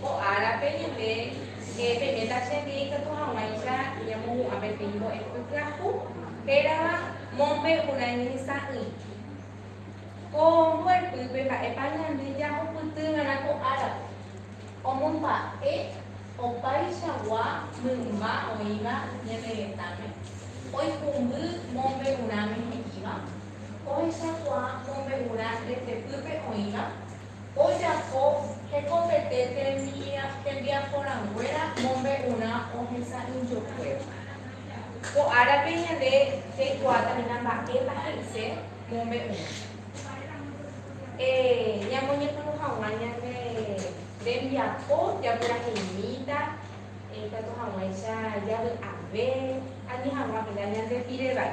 Ko árape ñande eh peiméta che ndive ikatu hag̃uáicha ñamohu'ã pe fin mbo'epy pyahu hérava mombe'urã ñehesa'ỹi. Ko mbo'epýpe mba'épa ñande jahupyty va'erã ko árape? Omomba'e opaichagua mymba oĩva ñane retãme, oikũmby mombe'urãme he'íva, ohechakuaa mombe'urã retepýpe oĩva, ojapo hekopete tembiapo rãnguéra mombe'urã ohesa'ỹjokuéva. Ko árape ñande jaikuaáta hína mba'épa he'ise mombe'urã. Ñamoñepyrũ hag̃ua ñande rembiapo japyraheimíta ikatu hag̃uáicha javy'ave ani hag̃ua hína ñande pire vai.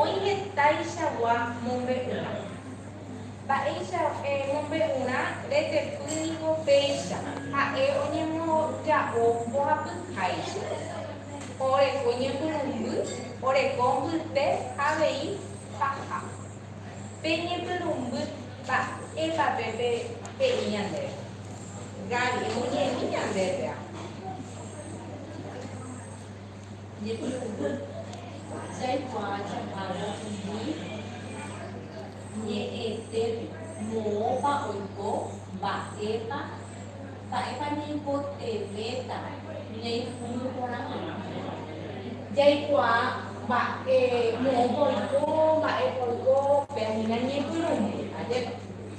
Oĩ hetaichagua mombe'urã. Mba'éicha mombe'urã retepy niko péicha. Ha'e oñemoja'o mbohapyháicha. Oreko ñepyrũmby, oreko mbyte ha avei paha. Pe ñepyrũmby mba'épa pe pe'i ñandéve? Gaby, emuñemi ñandéve. Ñepy'ũvy. Jaikuaa jahagua umi ñe'ẽtépe, moõpa oiko, mba'épa, mba'épa ñaipotevẽta ñaipuru porã hag̃ua. Jaikuaa mba'e, moõpa oiko, mba'épa oiko, péahina ñepyrũmby ajépa.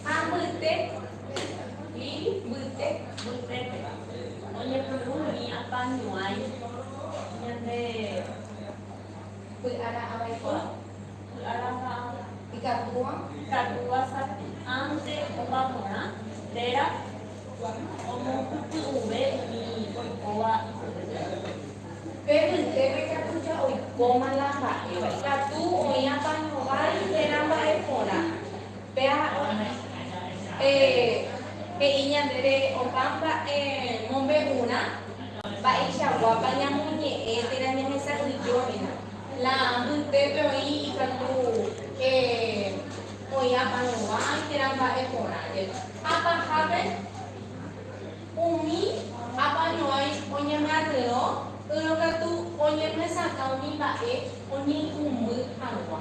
Ha mbyte. Lili mbyte mbytépe oñepyrũ umi apa ñuãi ñande py'ara avaikuaa, py'ara mba'apo, ikatúva, ikatúva sapy, ánte opa porã téra omohupi'ũve umi oikóva ipype. Pe mbytépe katu ja oikóma la mba'éva, ikatu oĩ apa ñuãi térã mba'e porã. Péa oĩ. Pe, he'i ñandéve opa mba'e mombe'urã mba'eichaguápa ñamoñe'ẽ térã ñahesa'ỹijómina. La mbytépe oĩ ikatu e, oĩ aparovã térã mba'e porãre. Ha pahápe umi apañuãi oñemyatyrõ yrõ katu oñemyesakã umi mba'e oñeikũmby hag̃ua.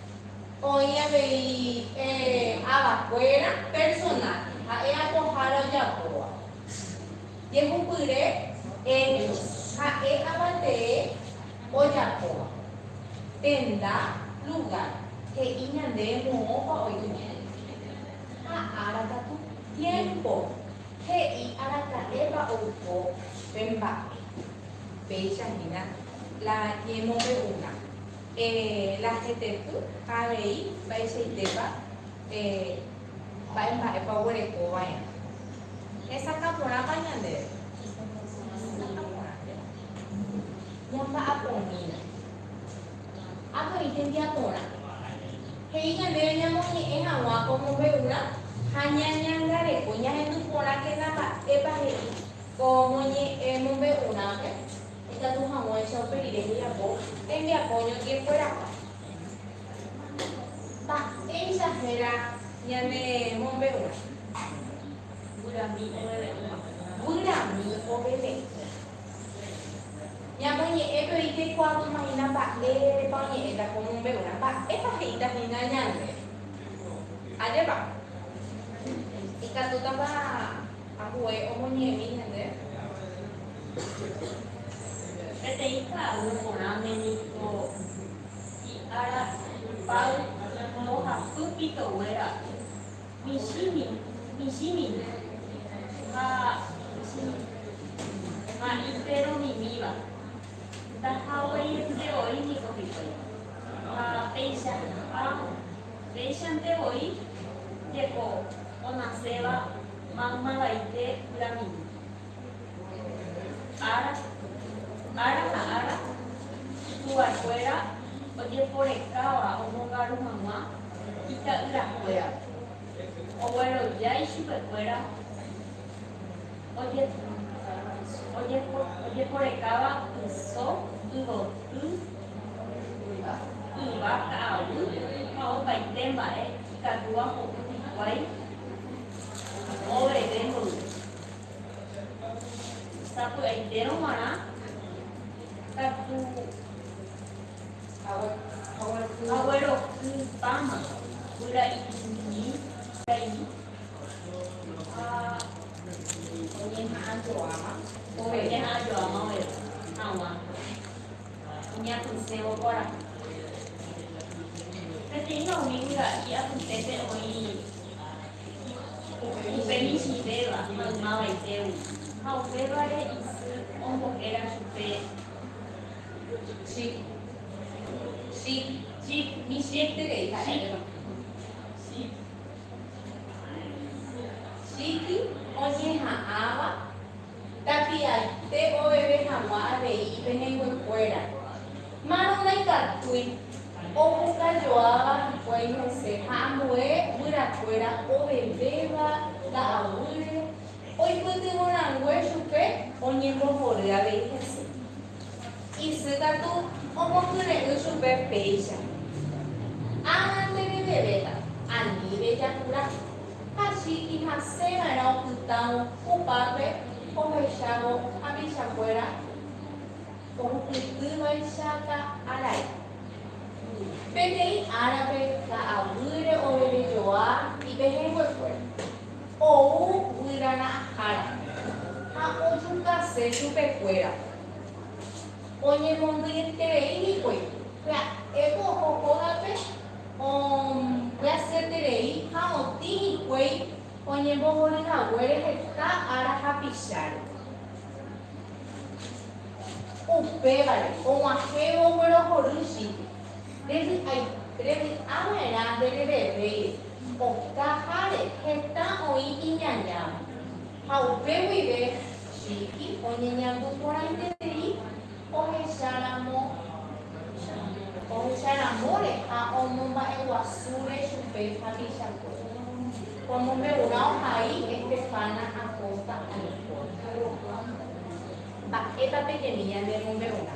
Oĩ avei avakuéra personaje ha'e apohára ojapóva. Jehupyre Helios ha'e avatee ojapóva. Tenda, lugar, he'i ñande moõpa oiko ñaĩ. Ha ára katu, tiempo, he'i araka'épa oiko pe mba'e. Péicha hína la ñemombe'urã. La heteky ha avei mba'eichaitépa mba'e mba'épa oguereko va'erã. Hesakã porãpa ñandéve? Hesakã porãnteva. Ñamba'apomína. Avei tembiaporã. He'i ñandéve ñamoñe'ẽ hag̃ua ko mombe'urã ha ñañangareko, ñahendu porãkena mba'épa he'i ko mombe'urãpe. Ikatu hag̃uáicha upe rire hejapo hembiapo ñotĩekuéragua. Mba'éicha héra ñane mombe'urã? Guyraumi oveve'ỹva. Guyraumi oveve'ỹva. Ñamoñe'ẽ pe oĩ jaikuaaumaína mba'érepa oñe'ẽta ko mombe'urã, mba'épa he'íta hína ñande. Ajépa? Ikatútapa. Ambue omoñe'ẽmi ñande. Peteĩ ka'aguy porãme niko hi'ára ipáy mbohapy pitoguéra michĩmi, michĩmi ha michĩmi ha iperomimíva. Ndahagueiete oĩ niko hikuái ha peichaha'ã. Péichante voi jeko onaséva maymavaite pyramíde. Ára, ára ha ára, tuvaekuéra ojeporekáva omongaru hag̃ua ita'yrakuérape, ogueroja ichupekuéra ojeporekáva yso, yvoty, Yva, yva, ka'aguy ha opaite mba'e ikatúva ho'u hikuái oveve mboyve. Sapy'aitérõ g̃uarã katu aguerokypáma guyra iñi kaimi ha oñeha'ãjoáma oveve hag̃ua. Ñapysẽvo kuarahy. Peteĩva umi yvaga'i apytépe oĩ upe michĩvéva maymavaitégui, ha upévare isy ombohéra chupe chip, chip, chip, chip oñeha'ãva. Tapiaite oveve hag̃ua avei penenguekuéra. Márõ ndaikatúi. Opuka joáva hikuái hese ha ambue guyrakuéra ovevéva ka'aguýre oipytyvõ rangue chupe oñembohory avei hese. Isy katu omokyre'ỹ chupe péicha. Ág̃a nderevevéta, aníve jakura. Hachi ihasẽva'erã opytãvo upápe ohechávo hapichakuéra ohupytývaichata arai. Peteĩ árape ka'aguýre ovevejoa ipehẽnguekuéra. ou guyrarãhára ha ojukase chupekuéra. Oñemondýieterei hikuái, pya'éko oho hógape ombyasyeterei ha otĩ hikuái oñembohory haguére heta ára hapicháre. Upévare, og̃uahẽvo guerohory Chile. Revy'ava'erã nderevevéi okaháre heta oĩ iñañáva, ha upe guive Chiqui oñeñandu porãiterei ohecha ramo ohecha ramóre ha omomba'eguasúre chupe hapichakuéra. Omombe'urã ohai Estefana Acosta Alcorta. Mba'épa peteĩ ñanemombe'urã?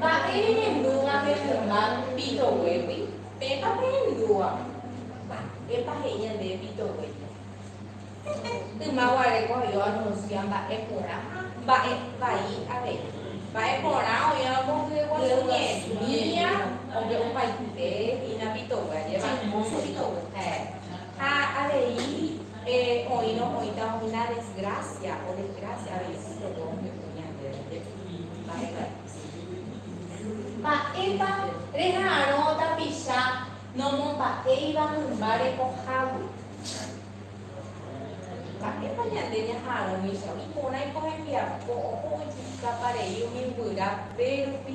Mba'e reñandúva pe rrymba pitoguégui? Pépa peñandúva. Mba'épa he'i ñande pitoguépe? Hehe, yma guare ko oĩ oanuncia mba'e porã ha mba'e vai avei. Mba'e porã oĩ ombohye guasu ñemíã ope opaite hína pitogue, ajépa hermoso pitogue. Ha avei oĩrõ oĩta umi la desgracia o desgracia avei pitogue omboyke ñandéve. Mba'épa reha'arõ tapicha nomomba'éiva mymba rekohágui? Mba'épa ñande ñaha'arõmícha iporãi ko hembiapo oho ojukápa rei umi guyra pérupi?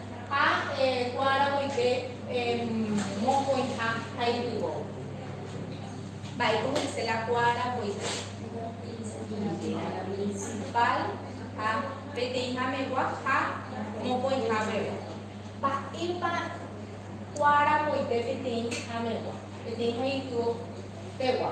Ha ko'ã aramoite mokõiha ha ipyvo. Mba'éiko he'ise la ko'ã aramoite? Higuera principal ha peteĩha megua ha mokõiha guive. Mba'épa ko'ã aramoite peteĩha megua, peteĩha ipyvo pegua?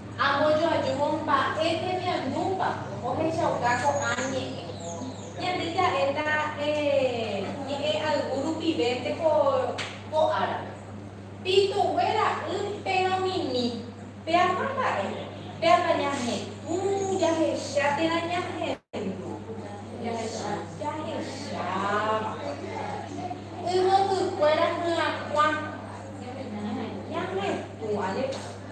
Ambojoajúvo mba'e tembiundúpa ohechauka ko'ã ñe'ẽ. Ñande ja'éta ñe'ẽ ayvu rupivénte ko ko árape. Pitugue ra'y péro mimi. Peaha mba'e, péaha ñahetũ, jahecha térã ñahendu. Jahecha. Jahecháva. Yvotykuéra hyakuã. Ñahetũ. Ñahetũ, alépa.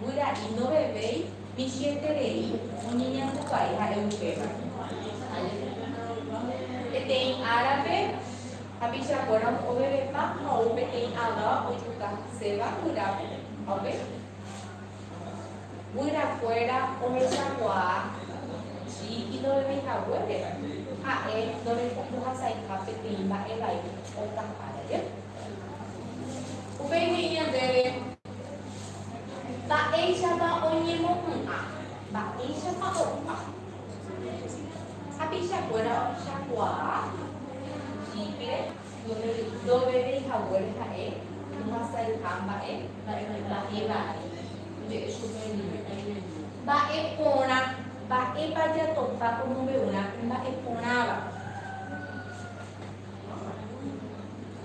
Guyra'i ndovevéi michĩeterei oñeñandukai ha'e upéva. Peteĩ árape, hapichakuéra ovevepa ha ou peteĩ aváva oipuka haséva guyrápe ha upe guyrakuéra ohechakuaa Chi'i ndovevéi haguére, ha'e ndorekombohasaiha peteĩ mba'e vai oka ára jey. Upéi he'i ñandéve. Mba'éichapa oñemopu'ã. Mba'éichapa opu'ã. Tapichakuéra ohechakuaa jípire ndovevéi haguére ha'e ohasayha mba'e mba'e vai. Oje'e chupe oñeme'ẽme. Mba'e porã. Mba'épa jatopa omombe'urã mba'e porãva.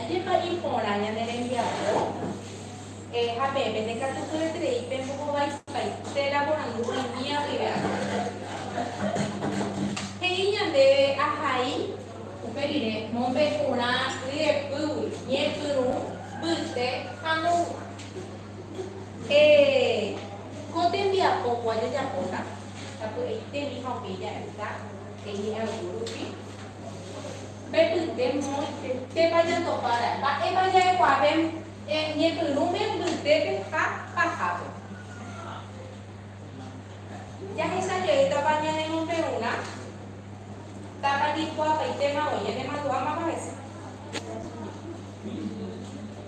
Ajépa iporã ñane rembiapo. Eh, ha peẽme ndekatupyeterei pembohovaipaite la porandu oĩmía guive añópe. He'i ñandéve ahai. Upe rire, mombe'urã ryepýgui, ñepyrũ, mbyte ha moõguima. Eh, ko tembiapogua jajapóta, tapy'aitemi ha upéi ja'éta, he'i Arturo rupi. Mbepyte moõitetépa ñandopára, mba'épa ja'ekuaave ñepyrũme mbytépe ha pahápe. Jahecha jeýtapa ñane mombe'urã, tápa ñaikuaapaitéma voi, ñane mandu'a mama hese.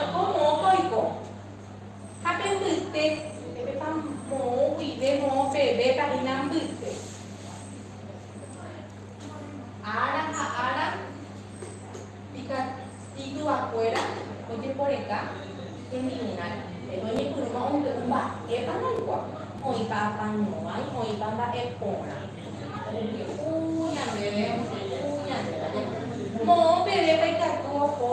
Oiko moõpa oiko. Ha pe mbyte, upépepa moõ guive moõ pevépa hína mbyte. Ára ha ára ika ituvakuéra ojeporeka hembi'urãre. Pe oñepyrũva ombe'u mba'épa ndaikua, oĩpa apañuãi, oĩpa mba'e porã. Omboje'u ñandéve, omboje'u ñandéve. Moõ pevépa ikatu oho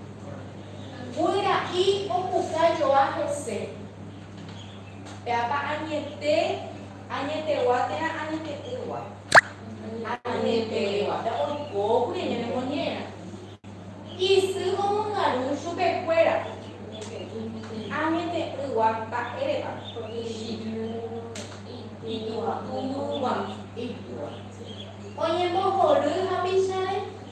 Guera'i opuka joa hese. Péapa añete, añetegua térã añete'ỹgua. Añetegua pe oiko kuri ñanemoñera. Isy omongaru chupe kuéra. Añete'ỹgua mba'érepa. Ijyvy, ijyvy, ijyvy. Oñembohory hapicháre.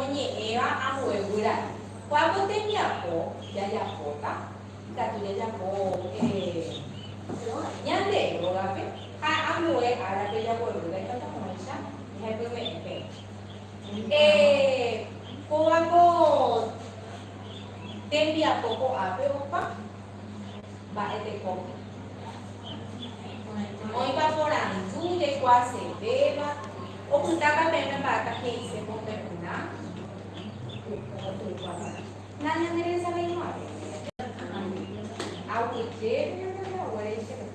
oñe'ẽva ambuevy raẽ. Cuando tembiapo jajapóta ikatu jajapo ñande rógape ha ambue árape jagueru ndaikatu hag̃uáicha jahepyme'ẽ peẽ. Kóva ko tembiapo ko'ápe opa. mba'e tekópe. Oĩpa porandu jekuaasevéva, opytáta peẽme mba'épa he'ise ko pe runa? Na ñanderesaveimo'ãve. Aguyjépe ñanderehaguére che runa.